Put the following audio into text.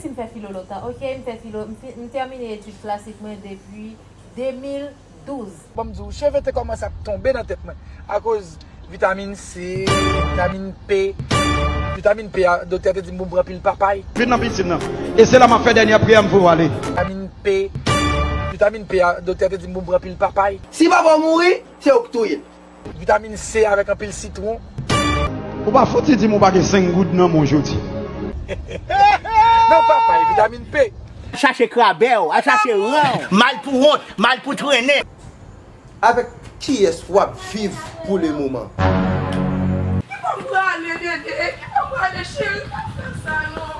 Si m fè filo lontan ok m fè filo m tèmine etid klasik mwen depi 2012. Bon m di w cheve te kòmanse ap tonbe nan tèt mwen akoz vitamin C vitamin P vitamin P a doktè te di m pou m pran pil papay. Vin nan pisin nan e se la m ap fè dènyè priyè m pou w ale. Vitamin P vitamin P a doktè te di m pou m pran pil papay. Si papa w mouri se ou k touye l. Vitamin C avèk anpil sitron. Ou pa fouti dim ou pa gen 5 goud nan menw jodi. Nan papay, vitamin P. Al chache krabew, al chache ranw. Mal pou wont, mal pou trennen. Avèk kiyès wap viv pou le moman? Ki bo m prale dede, ki bo m prale cheri pa fè sa non.